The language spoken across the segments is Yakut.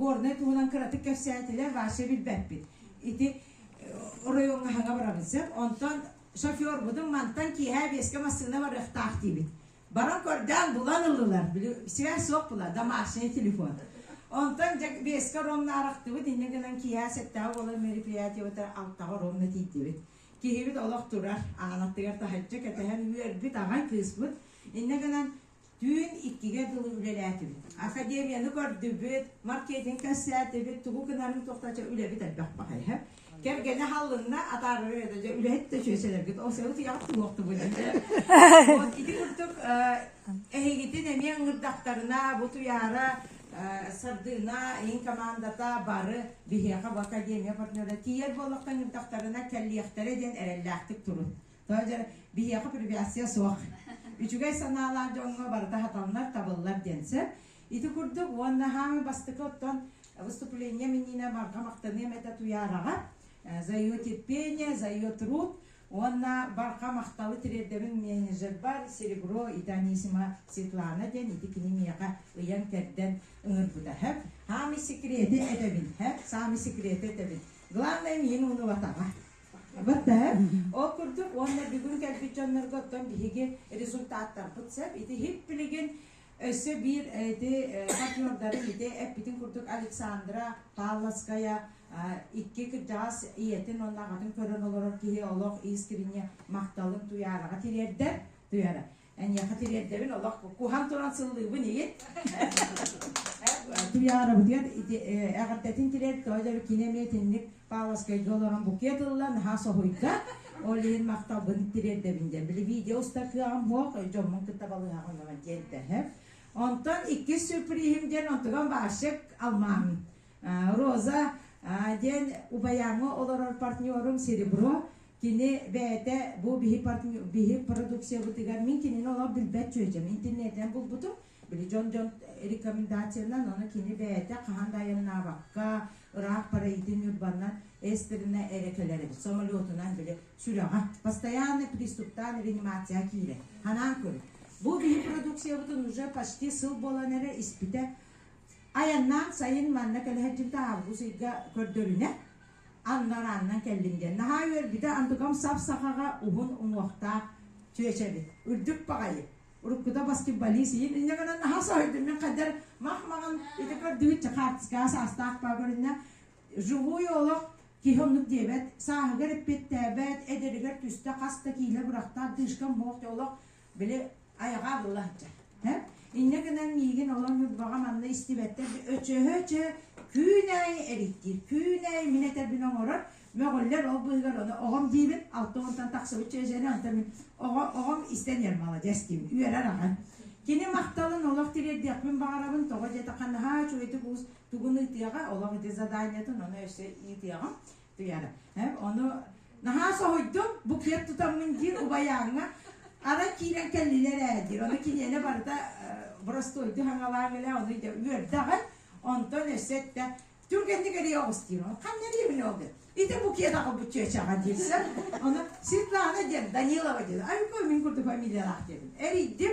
Горнай туһунан кыратык кэпсээтилэр, вообще билбэппит. Ити оройуонга хаҥа барабыт сөп, онтон шофербутун мантан киэһэ биэскэ массыына барыахтаах диибит. Баран көрдөөн булан ыллылар, били связь суох була, домашний телефон. Онтон биэскэ оронно арахтыбыт, иннэ гынан киэһэ сэттэҕэ буолан мероприятиебыта алтаҕа оронно тиийдибит. Киһибит олох турар, аанаттыгар таһыччы кэтэһэн үөрбүт, аҕай кыыспыт. Иннэ гынан Түүн иккигэ дылы үлэлээтибит. Академияны көрдүбүт, маркетинг кэпсээтибит, тугу гынарын тохточо үлэбит элбэх баҕайыһа. Кэргэнэ халлынна атаарыа да дьэ үлэһит да чүөсэлэргит ол сыалы тиҕэҕит туруохтубут диэн. Ити курдук эһигитин эмиэ ыҥырдахтарына бу туйаара сардыына иһин командата бары биһиэхэ бу академия партнера тиийэр буоллахтан ыырдахтарына кэллиэхтэрэ диэн эрэллээхтик турун. Дьэ, биһиэхэ привязия суох. Үчүгэй санаалаах дьоҥҥо барыта сатаннар, табыллар диэн сөп. Ити курдук, уонна хаамыы бастакы оттон выступление миниинэ барҕа махтаныам этэ Туйаараҕа, Зайо терпение, Зайо труд уонна барҕа махталы тириэрдэбин менеджербар Серебро ити Анисима Светлана диэн ити кини миэхэ ыйан-кэрдэн ыҥырбыта. Сөп? Хаамыы секреты этэбин. Сөп? Саамый секреты этэбин. Главное миин уунубатаҕа. Сахабыт да. Ол курдук уонна бүгүн кэлбит дьоннорго оттон биһиги результаттарбыт сөп. Ити һип билигин өссө биир ити партнердарын ити эппитин курдук Александра Павловская икки кырдьаҕас ийэтин уонна аҕатын көрөн олорор киһи олох искренне махталын Туяраҕа тириэрдэр. Туяра. Эниэхэ тириэрдэбин олох куһан туран сыллыыбын ийин. Туйаарабытыгар эҕэрдэтин тириэр тоҕо да кинэ метинник паласкайга олорон букет ылла наһаа соһуйда. Ол иһин махталбын тириэрдэбин диэн. Били видео уста кыаҕым муох дьоммун кытта балыһаҕын онон тиэрдэһэр. Онтон иккис сюрпризим диэн онтон Вашек Алмаан. Роза диэн убайаҥы олорор партнерум Серебро Кини бэйэтэ бу биһи, биһи продукциябытыгар мин кинини олох билбэт чүөчэм интернетинэн булбутум. Били дьон дьон рекомендациянан аны кини бэйэтэ хаһан да айаннаабакка ыраах параитин урбаннан эстерина эрэ кэлэр эбит самолетунан били сүрэҕэ постоянно приступтаан реанимация киирэр ханаан көрү бу биһи продукциябытын уже почти сыл буолан эрэ испитэ айаннаан сайын манна кэлэһэрдибит аалгыс ыйга көрдөрүнэ анна араанынан кэллим диэн наһаа үөрбүтэ антукам сап сахаҕа уһун уҥуохтаах чүөч эбит үрдүк баҕайы уруккута баскетболист иһин инньэ гынан наһаа соһуйдум мин хайдар мах маҕан ити көрдүгүт чехарскаҕа саастаахпаа көрүннэ живой олох киһи оннук диэбэт сааһыгар эппиэттээбэт эдэригэр түстэ хас да киилэ бырахта дышкам бох олох били айаҕа дылы сылдьар. Инньэ гынан миигин олор Ньурбаҕа манна истибэттэр өчөһө-өчө күн аайы эриктиир, күн аайы мин этэрбин оҥорор, мөҕүллэр ол быыһыгар ону оҕом диибин, алта уонтан тахсыбыт чэйжэни онтон мин оҕо оҕом истэн иһэр маладьас диим, үөрэр аҕам. Кини махталын олох тириэрдиэхпин баҕарабын, тоҕо диэтэ наһаа үчүгэйдик уус тугун ыытыаҕа, олох ити заданиетын ону өссө ыытыаҕым. Тыяна. Ону наһаа соһуйдум, букет тутаммын диир убайааҥҥа. Арай киирэн кэллилэр ээ диир. Ону киниэнэ барыта боростуойду хаҥалаан илэ ону идэ үөрдэҕин. Онтон өссө эттэ түргэнник эрийэ оҕус диир. Ханна эриэбин ол диэн. Ити букет аҕабыт чүөчэҕэ диирсэн. Ону Светлана диэн, Данилова диэн. Ай, мин курдук фамилиялаах диэбин. Эрийдим.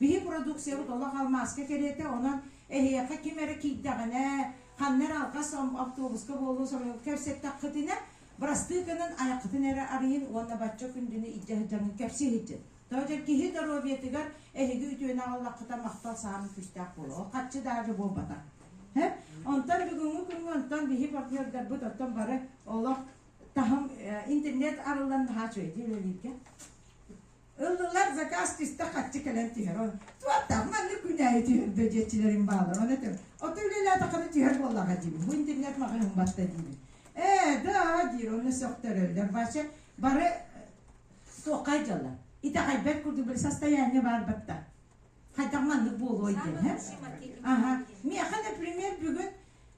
Биһи продукциябыт олох алмааска кэриэтэ, онон эһиэхэ ким эрэ киирдэҕинэ, ханна эрэ алҕас автобуска буолуо соруйан кэпсэттэххитинэ, бырастыыкынын айаххытын эрэ арыйын уонна бачча күндүнү илдьэ сылдьаҥҥын кэпсии сылдьын. Тоҕо дьэр киһи доруобуйатыгар эһиги үтүөнү аҕаллаххыта махтал саамай күүстээх буолуо. Ол харчы да аже буолбатах. Онтон бүгүҥҥү күҥҥэ онтон биһи партнердарбыт оттон бары олох таһым интернет арыллан наһаа үчүгэйдик үлэлииргэ. Ыллылар, заказ түстэ, харчы кэлэн түһэр. Ол туоттаах маннык күнээйи түһэрдэ диэччилэрим бааллар. Ону этим, оту үлэлээтэххинэ түһэр буоллаҕа диибин, бу интернет маҕаһыын батта диибин. Ээ, да, диир, онно сөхтөрөллөр. Вася бары суоххай дьаллар. Итэҕэйбэт курдук били состояние баар батта. Хайдах маннык буолуой диэн, һэ? Аха, миэхэ, например, бүгүн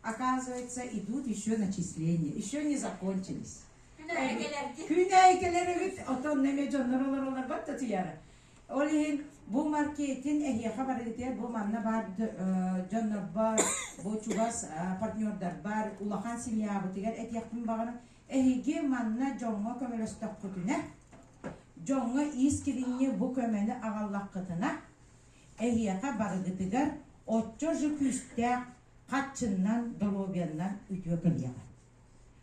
Оказывается, идут еще начисления, еще не закончились. Күнэйкелер үгүт отон неме дьоннор олоролорбат да тыяра. Ол иһин бу маркетин эһиэхэ барыытыгар бу манна бар дьоннорбор, бу чугас партнердарбар, улахан семьябытыгар этиэхпин баҕарым. Эһиги манна дьоҥҥо көмөлөстөххүтүнэ, дьоҥҥо иис кириньи бу көмөнү аҕаллаххытына, эһиэхэ барыгытыгар отчо же күүстээх Хаччыннан, доруобуйаннан үтүө кыһыаҕа.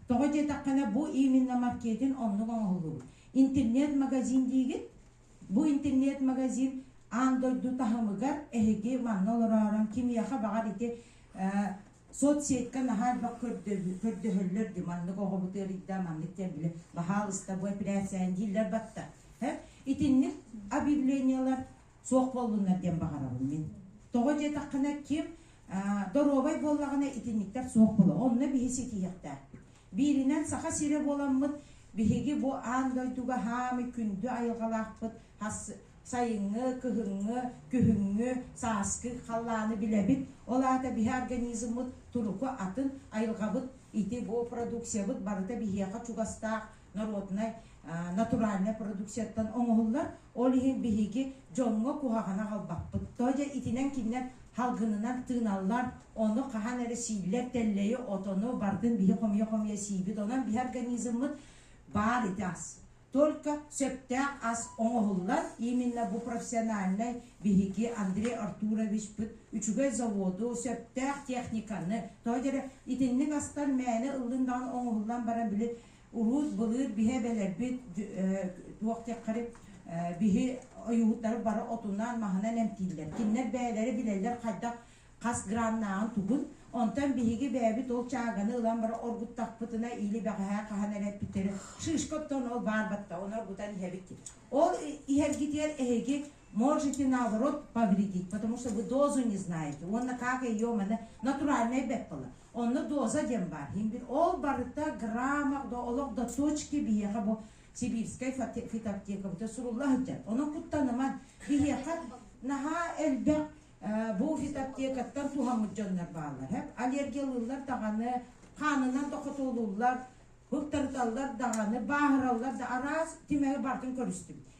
Тоҕо диэтэххинэ, бу именно маркетин оннук оҥоһуллубут. Интернет-магазин диигит? Бу интернет-магазин аан дойду таһымыгар эһиги манна олороорон кимиэхэ баҕар ити соцсетька наһаа элбэх көрдөһөллөр дии маннык оҕобут ыарыйда маннык диэн били баһаалыста бу эпэрээссийэҕин дииллэр баттар итинник объявлениелар суох буоллуннар диэн баҕарабын мин. Тоҕо диэтэххинэ, ким доруобай буоллаҕына итинниктэр суох буолуо. Онно биһи ситиһиэхтээхпит. Бииринэн, Саха сирэ буоламмыт, биһиги бу аан дойдуга хаамый күндү айылҕалаахпыт сайыҥҥы, кыһыҥҥы, күһүҥҥү, сааскы халлааны билэбит. Ол аата биһи организммыт туруку атын, айылҕабыт ити, бу продукциябыт барыта биһиэхэ чугастаах, народнай, натуральнай продукцияттан оҥоһуллар, ол иһин биһиги дьоҥҥо куһаҕаны аҕалбаппыт. Тоҕо диэн итинэн кинилэр салгынынан тыыналлар, ону хаһан эрэ сииллэр, тэллэйи, отону, бардын биһи хомуйа-хомуйа сиибит, онон биһи организммыт баар ити ас. Только сөптөөх ас оҥоһуллар, именно бу профессиональнай биһиги Андрей Артуровичпыт үчүгэй заводу, сөптөөх техниканы, тоҕо диэри итинник астар мээнэ ыллын даҕаны оҥоһуллан баран били Улуус былыыр биһэ эбэлэрбит туох диэххэрит биһи ойуурдары бары отунан маһынан эмтииллэр. Кинилэр бэйэлэрэ билэллэр хайдах хас граннааҕын тугун. Онтон биһиги бэйэбит ол чааганы ылан бара оргуттахпытына или бэҕэһээ хаһан эрэ эппиттэри шишка оттон ол баар батта оны оргутан иһэбит. Ол иһэргитигэр эһиги можете наоборот повредить, потому что вы дозу не знаете. Уонна как ее маны натуральнай бэп була. Онно доза диэн баар. Ол барыта граммах да олох да сочки биһиэхэ бу сибирскай фитоаптекабыта сурулла сылдьар. Онон куттаныман биһиэхэ наһаа элбэх бу фитоаптекаттан туһаммыт дьоннор бааллар. Аллергиялыыллар даҕаны, хаанынан тохотолууллар, быктарыталлар даҕаны, бааһыраллар да араас тимэри бартын көрүстүм.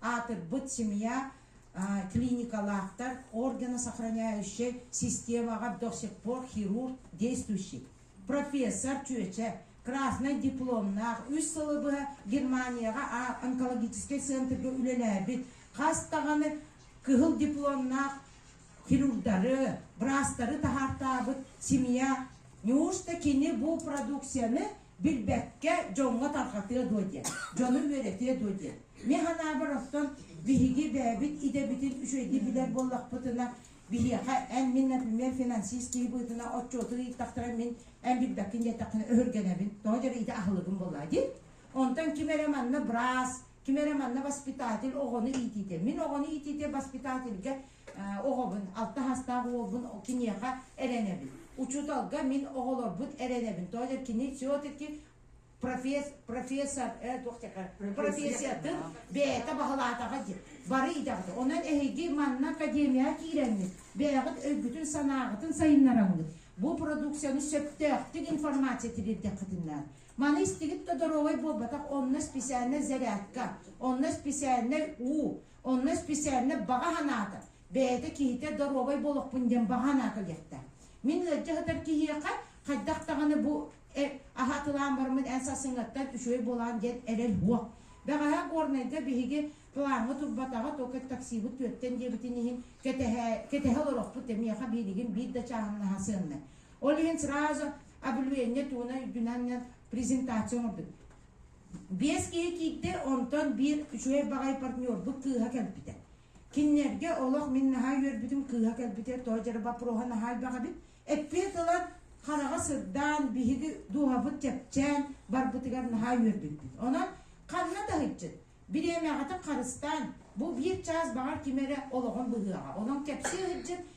аатырбыт семья клиникалаахтар органа сохраняющай системаҕа до сих пор хирург действующий профессор чүөчэ краснай дипломнаах үс сылы быһа Германияҕа онкологическай центргэ үлэлээбит хас даҕаны кыһыл дипломнаах хирурдары, браастары таһаартаабыт семья неужто кини бу продукцияны Билбэккэ дьоҥҥо тарҕатыа дуо диэн, дьону үөрэтиэ дуо диэн. Мин санаабар оттон биһиги бэйэбит идэбитин үчүгэйдик билэр буоллахпытына, биһиэхэ эн, мин, например, финансист киһи быһыытынан отчуоту ыйыттахтара мин эн билбэккин диэтэххинэ өһүргэнэбин, тоҕо диэбит ити аһылыгым буоллаҕа дии. Онтон ким эрэ манна быраас, ким эрэ манна воспитатель оҕону иитиитэ. Мин оҕону иитиитэ воспитательга оҕобун, алта саастаах уолбун киниэхэ эрэнэбин. Учууталга мин оҕолорбут эрэнэбин. Тоотер кини все-таки професс, профессор, э, туох такая, профессиятын бэйэтэ баһылаатаҕа дии. Бары идэҕит. Онон эһиги манна академияҕа киирэҥҥит, бэйэҕит өйгүтүн-санааҕытын сайыннараҥҥыт. Бу продукцияны сөптөөхтүк информация тириэрдэххитинэ. Маны истигит да доруобай буолбатах онно специальнай зарядка, онно специальнай уу, Онно исписээннэр баҕа санаата, бэйэтэ киһитэ доруобай буолуохпун диэн баҕа санаа кэлиэхтээх. Мин ыалдьа сытар киһиэхэ хайдах даҕаны бу аһатылаан барыммын эн сарсыҥҥаттан үчүгэй буолаҕын диэн эрэл уох. Бэҕэһээ Горнайга биһиги плаҥҥа турбатаҕа, только таксибыт түөртэн диэбитин иһин кэтэһэ олорохпут эмиэхэ биилигин биир да чааһыннаһа сыаннай. Ол иһин сразу облюение туна үрдүнэн презентация оҥордубут. Биэс киһи киирдэ, онтон биир үчүгэй баҕайы партнербут кыыһа кэлбитэ. Кинилэргэ олох мин наһаа үөрбүтүм кыыһа кэлбитэ, тоҕо дьара боппуруоһа наһаа элбэх эбит. Эппиэт ыла хараҕа сырдаан, биһиги дууһабыт чэпчээн барбытыгар наһаа үөрбүппүт. Онон ханна таһыччыт, бириэмэҕитин харыстаан, бу биир чаас баҕар ким эрэ олоҕун быһыаҕа. Онон кэпсии сылдьыт,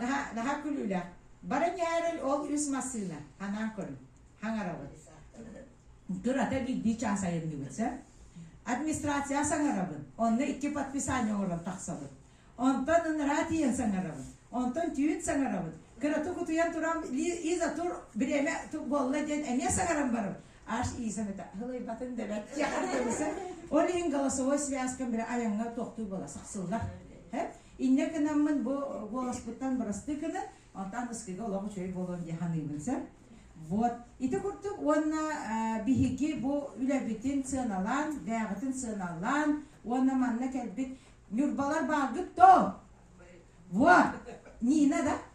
Наһаа, наһаа күлүүлээх. Баран яарыл ол үс массыына. Анаан көрүҥ. Хаҥарабыт. Турата биирдии чаас айанныбыт, сөп? Администрация саҥарабын. Онно икки подписание оҥорон тахсабын. Онтон ынараа тиийэн саҥарабын. Онтон түүн саҥарабын. Кыратык утуйан туран Лиза тур, бириэмэ тук буолла диэн эмиэ саҥаран барабын. аш иисен это хылайбатын дэбэт тиэхэрдэмисе ол иһин голосовой связкам бирэ айаҥҥа тохтуу бола сахсыллар һэ инне кынаммын бу голоспуттан бырастыы кынын онтан ыскыга олох үчүгэй буолуон дии ханыыбын сэ вот ити курдук уонна биһиги бу үлэбитин сыаналаан бээҕитин сыаналаан уонна манна кэлбит ньурбалар бааргыт то во нина да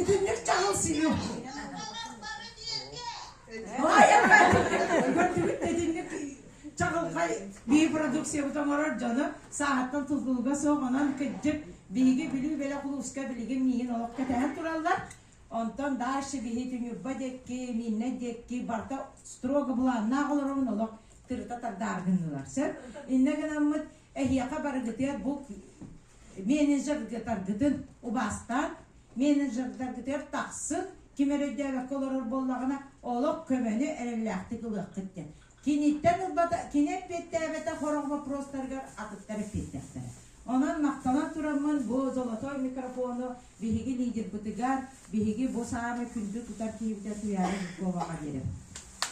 Итинник чаһыл сиһим. Итинник чаҕылхай бии продукциябыт оҥорор дьону сааһыттан тутулуга суох онон кырдьык биһиги Бүлүү бэлэх улууска билигин миин олох кэтэһэн тураллар. Онтон дальше биһиити Ньурба диэки, Мииннэй диэки барыта строго былааннаах олоробун олох тырыта тардаары гыннылар. Сөп иннэ гынаммыт эһиэхэ барыгытыгар бу менеджердаргытын убастан, менеджердаргытыгар тахсын ким өрөйдөөбөккө олорор буоллаҕына олох көмөнү эрэллээхтик ылыаххыт диэн. Киниттэн ылбата, кини эппиэттээбэтэ хорох боппуруостарыгар атыттар эппиэттэхтэрэ. Онон махтанан тураммын бу золотой микрофону биһиги лидербытыгар, биһиги бу саамай күндү тутар киһибитэ Туйаара Жиркова-ҕа биэрэбин.